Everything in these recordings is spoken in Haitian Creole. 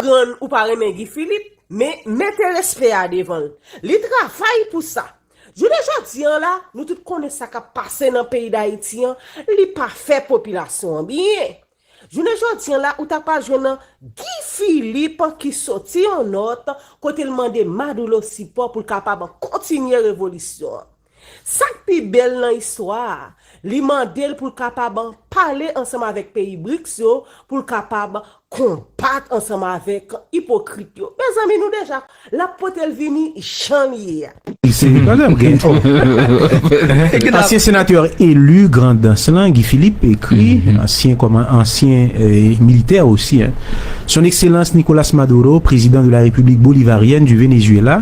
konprann ou pa renmen Guy Philippe, men mete respè a devan l. Li travay pou sa. Jounen jodi an la, nou tout konnen sa k ap pase nan peyi Dayiti an, li pa fè popilasyon an byen. Jounen jodi an la ou ta pral jwenn nan Guy Philippe ki soti yon nòt kote l mande Madoulo sipò pou l kapab kontinye revolisyon an. Sa k pi bèl nan istwa a, li mande l pou l kapab pale ansanm avèk peyi BRICS yo pou l kapab konbat ansanm avèk ipokrit yo. Mezanmi nou deja, l ap pote l vini jan l ye a. Ansyen senatè eli Grandans lan, Guy Philippe, ekri, ansyen kòman, ansyen militè osi, Son Ekselans Nicolas Maduro, Prezidan de la Repiblik Bolivaryèn di Venezyela,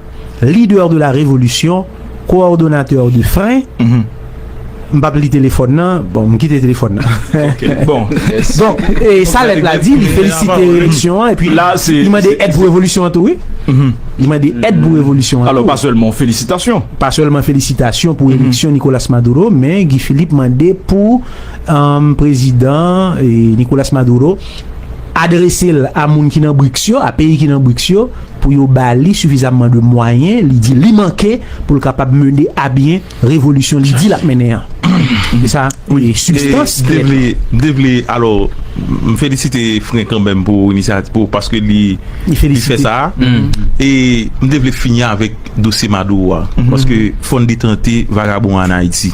Leader de la révolution, coordonnateur de frein, m pap li telefòn nan, bon m kite telefòn nan. Ok bon. Donk e sa lèt la di, li felisite revolisyon an epi li mande èd pou revolisyon an tou wi. Li mande èd pou revolisyon an tou. Alò pa sèlman felisitasyon. Pa sèlman felisitasyon pou eleksyon Nicolas Maduro men Guy Philippe mande pou prezidan Nicolas Maduro adrese l a moun ki nan BRICS yo, a peyi ki nan BRICS yo, pou yo ba li sifizamman de mwayen li di li manke pou l kapab mene abyen revolisyon li di l ap mennen an. Se sa sibstans ki lèt la. M te vle, alò, m felisite Fren kanmenm pou inisyativ, pou paske li fè sa a. E m te vle fini avèk dosye Maduro a. Paske fò n detente vagabon an an Ayiti.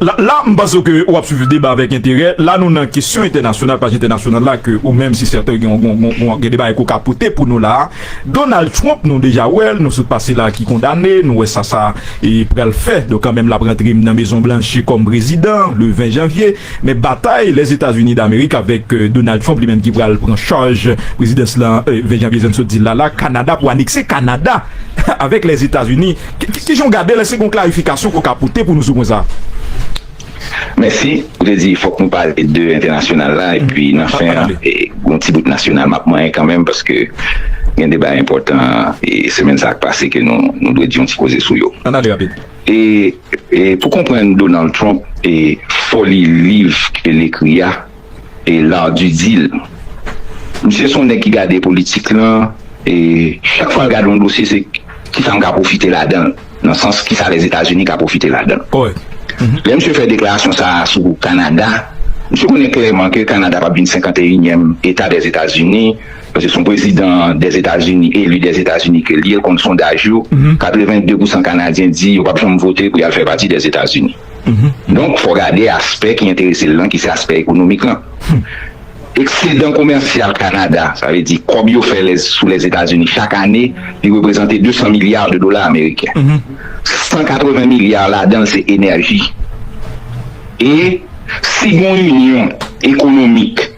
La m panse ke ou ap swiv deba avèk enterè. La nou nan kesyon entènasyonal, paj entènasyonal la ke ou menm se sèten gen yon gen de bagay ke w ka pote pou nou la a. Donald Trump nou deja wè l, nou sot pase la ki kondane, nou wè sa sa pral fè. Donk kanmenm l ap rantre nan Mezon Blanch kòm prezidan le 20 janvye. Men batay Lèzetazini Damerik avèk Donald Trump li menm ki pral pran chaj prezidans lan 20 janvye jan n sot di l la la. Kanada pou anekse Kanada avèk Lèzetazini. Kijan w gade l, èske gen yon klarifikasyon ke w ka pote pou nou sou pwen sa a? Mèsi. Ou te di fòk nou pale de entènasyonal la epi nan fen an, yon ti bout nasyonal m ap manyen kanmenm paske gen de bagay enpòtan semèn sa a k pase ke nou dwe di yon ti koze sou yo. Ann ale rapid. E pou konprann Donald Trump e foli liv ke l ekri a. e lardy dil misye son nèg ki gade politik lan e chak fwal gade yon dosye se kisam ka profite ladanl nan sans kisa les etats unis ka profite ladanl lè misye fè deklarasyon sa sou kanada misye konnen klèman ke kanada pap vin 51 nyèm eta des etats unis paske son prezidan des etats unis eli des etats unis ke liye konn sondaj yo 82 pousan kanadyen di yo pap janm vote pou yal fè pati des etats unis. Donk, fò gade aspè ki enterese l lan, ki se aspè ekonomik lan. Eksedan komèsyal Kanada, sa vle di kòb yo fè sou Lèzetazini chak ane, li reprezante 200 milya de dola ameriken. 180 milya ladan l se enèji. E si gen yon inyon ekonomik,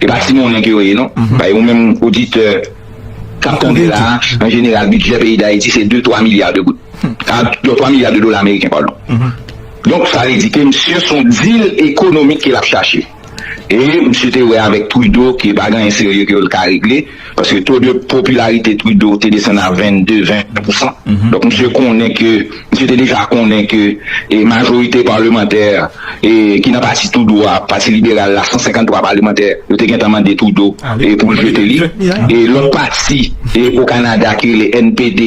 E pa ti monnen ke yo ye non. Bay ou menm oditè kap tande la a, an jeneral bidjè peyi Dayiti se 2, 3 milya de goud. A, 2, 3 milya de dola ameriken, padon. Donk sa vle di ke misye son dil ekonomik ke lap chache. E misye te wè avèk Trudeau ke pa gen anyen serye ke yo ka regle. Paske to de popilarite Trudeau te desann a 22, 21 pousan. Donk misye konnen ke, misye te deja konnen ke e majorite palemantè e ki nan pati Trudeau a, pati liberal la, 153 palemantè yo te gentan mande Trudeau e pou l jete li. E lòt pati e o Kanada ki rele NPD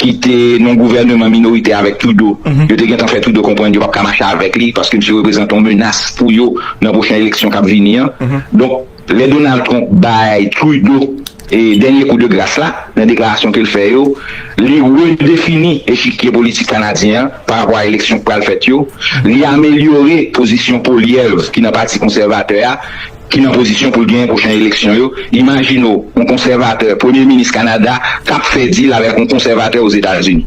ki te nan gouvèneman minoritè avèk Trudeau, yo te gentan fè Trudeau konprann yo pap ka mache avèk li paske misye reprezante yon menas pou yo nan pwochen eleksyon kap vini an. Donk. Lè Donald Trump bay Trudeau dènye kou de gras la nan deklarasyon ke l fè yo, li redefini echikye politik kanadyen an parapò a eleksyon k pral fèt yo, li amelyore pozisyon Poilievre ki nan pati konsèvatè a ki nan pozisyon pou l genyen pwochen eleksyon yo. Imajine w yon konsèvatè premye minis Kanada k ap fè dil avèk yon konsèvatè Ozetazini.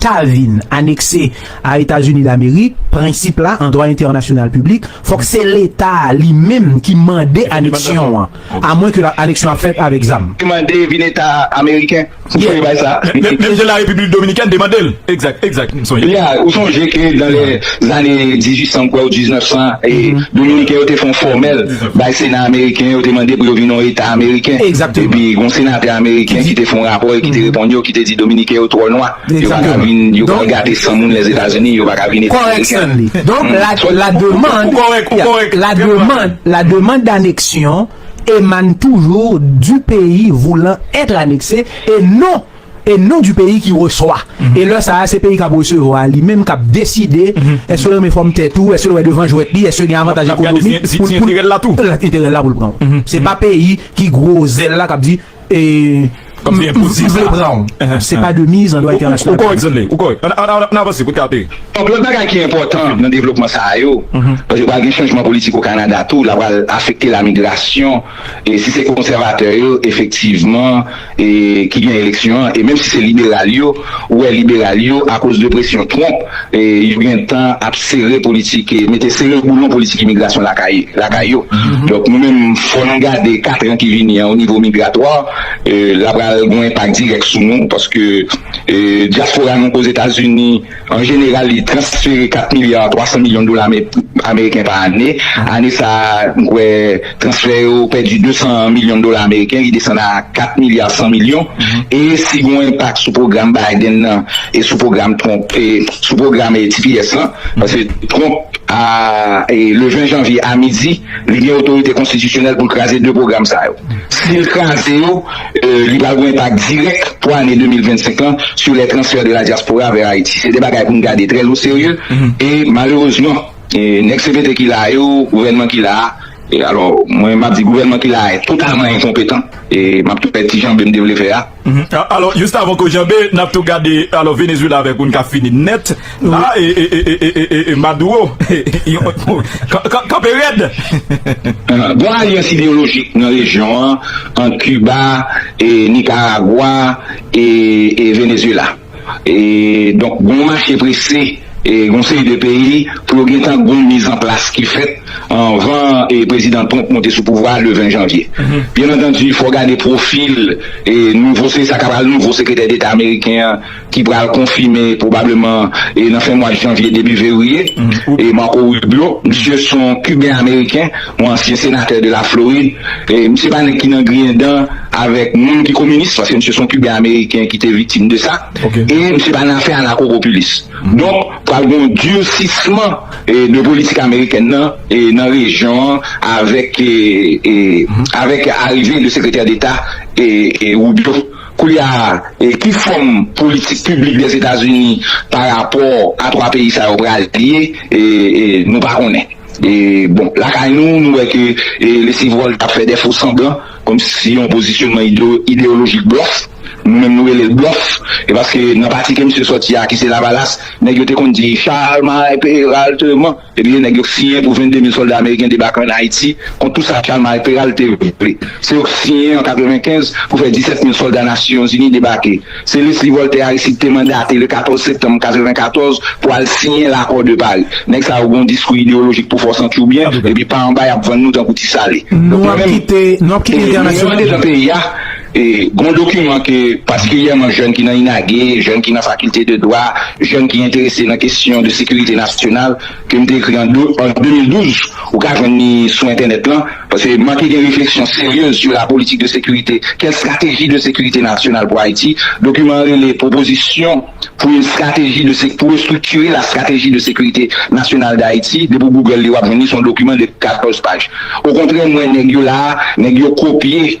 ta vin anekse a Etazini Damerik, prensip la an dwa entènasyonal piblik, fòk se Leta a li menm ki mande aneksyon an, a mwen ke aneksyon an fèt avèk zam. Mande vin Eta ameriken pou fè bagay sa a. Menm jan Larepiblik Dominikèn demande l. Egzak, egzak, m sonje. Ya, ou sonje ke dan lè zane 1800 m kwè ou 1900, Dominiken yo te fè yon fòmèl. Bay Sena ameriken yo te mande pou yo vin yon eta ameriken. Epi gon senatè ameriken ki te fon rapò e ki te reponn yo ki te di dominiken yo twò nwa, yo pa ka vin, yo pral gate san moun Lèzetazini, yo pa ka vin eta ameriken. Donk la demand, la demand, la demand d'aneksyon emane toujou du peyi voulan etre anekse e non e non di peyi ki reswa e lè sa a se peyi k ap resevwa a li menm k ap deside èske l renmen fòm tèt ou èske l wè devan jwèt li èske gen avantaj ekonomik pou l enterè l la tou enterè l la pou l pran w se pa peyi ki gwo zèl la k ap di e m vle pran w se pa de miz an dwa entènasyonal ou kòrèk Zenley ou kòrèk ann avanse pou n ka ateri donk lòt bagay ki enpòtan nan devlopman sa a yo paske pral gen chanjman politik o Kanada tou l a pral afekte lamigrasyon. E si se konsèvatè yo efektivman ki gen eleksyon an, e menm si se liberal yo, ou wè liberal yo akoz de presyon Trump yo gen tan ap sere politik, mete sere boulon politik imigrasyon lakay yo. Donk nou menm fò nou gade katran ki vini an o nivo migratwa, la pral gon enpak dirèk sou nou paske dyaspora nou k Ozetazini An jeneral, li transfere 4 milya 300 milyon dola ameriken pa ane. Ane sa a, m kwè transfè yo pèdi 200 milyon dola ameriken, li desann a 4 milya 100 milyon. E si gen yon enpak sou pwogram Biden nan e sou pwogram Trump, e sou pwogram tps lan, paske Trump a, le 20 janvye a midi, li gen otorite konstitisyonèl pou l kraze 2 pwogram sa yo. Si l kraze yo, Li pral gen enpak dirèk pou ane 2025 lan sou les transferts de la diaspora vers Haïti. Se de bagay pou n gade trè lo serye e malerezman nèg cpt ki la a yo, gouvènman ki la a, alò mwen map di gouvènman ki la a totalman enkonpetan e map tou fè ti janbe m te vle fè a. Alò juste avan ke w janbe, nap tou gade alò Venezuela avèk ou n ka fini nèt. La e Maduro kanpe rèd. Bon alyans ideyolojik nan rejyon an ant Kiba, Nikaragwa e Venezyela. Donk gon mache prese gon seri de peyi pou yo gentan gon mizanplas ki fèt anvan Prezidan Trump monte sou pouvwa a le 20 janvye. Byenantandi fò gade pwofil nouvo se sa ka pral nouvo sekretè deta ameriken an ki pral konfime pwobableman nan fen mwad janvye debi fevriye, e Marco Rubio, misye son Kiben Ameriken, yon ansyen senatè de la Florid, e misye pa nèg ki nan griyen dan avèk moun ki kominis, paske misye son Kiben Ameriken ki te viktim de sa, e misye pa nan afè anakopopilis. Donk, pral gen yon dirsisman de politik amerikèn nan nan rejyon an avèk avèk arive de sekretè deta Rubio. Koulye a, ki fòm politik piblik Lèzetazini pa rapò a 3 peyi sa yo pral ye, nou pa konnen. Bon, lakay nou, nou wè ke Leslie Volta ap fè dè fo sanblan, kòm si yon pozisyonman ideyolojik blòf, nou menm nou rele l blòf, e paske nan pati ke misye sòti a, ki se Lavalas, nèg yo te konn di Chalmay Peralteman. Epi yo nèg yo siyen pou 22 mil sòlda ameriken debake an Ayiti kont tou sa Chalmay Peral te vle. Se yo k siyen an 95 pou fè 17 mil sòlda Nasiyonzini debake. Se Leslie Voltaire Aristide te mandate le 14 septanm 94 pou al siyen Lakò de Pari. Nèg sa yo gen yon diskou ideyolojik pou fòs antyoubyen epi pa anba y ap vann nou tankou ti sale. Nou ap kite entènasyonal. Gon dokiman ke patikilyèman jèn ki nan INAGE, jèn ki nan fakilte de dwa, jèn ki enterese nan kesyon de sekirite nasyonal ke m te ekri an 2012, ou ka jwenn li sou entènèt lan, paske manke gen refleksyon seryez sou la politik de sekirite, kèl strateji de sekirite nasyonal pou Ayiti. Dokiman an rele Proposition pour une stratégie de pour restructurer la stratégie de sécurité nationale d'Haïti, depi w Google li w ap jwenn li, se yon dokiman de 14 paj. Okontrè m wè nèg yo la a, nèg yo kopye.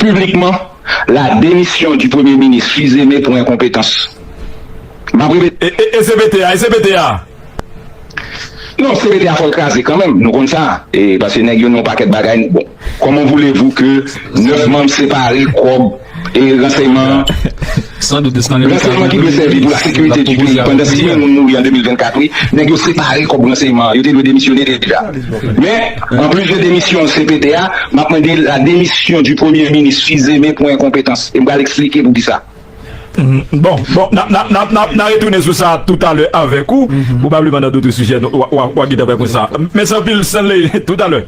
piblikman la demisyon di premye minis Fils-Aimé pou enkonpetans. M ap repete. E, e, e CPT a? E CPT a? Non, CPT a fò l kraze kanmenm, nou konn sa, e, paske nèg yo nan yon pakèt bagay, bon, kòman voulez-vous ke 9 manm separe kòb e ranseyman an? Ransèyman ki dwe sèvi pou la sekirite du peyi pandan 6000 moun mouri an 2024 wi, nèg yo separe kòb ransèyman an, yo te dwe demisyone deja. Men, an plis de demisyon CPT a, m ap mande la demisyon du premye minis Fils-Aimé pou enkonpetans, e m pral eksplike pou kisa. Bon, bon, n a retounen sou sa toutalè avèk ou, pwobableman nan dout sijè, w a gin tan pè konsa. Mèsi anpil Stanley, toutalè.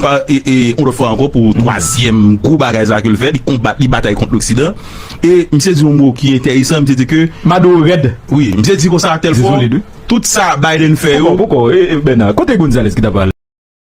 Pa yon lòt fwa ankò pou twazyèm gwo bagay sa ke l fè, li konbat, li batay kont loksidan. E misye di yon mo ki enteresan, misye di ke. Maduro rèd. Wi, misye di konsa telfò, tout sa Biden fè yo. Poukò, poukò, e Bernard, kote Gonzalez ki ta pale?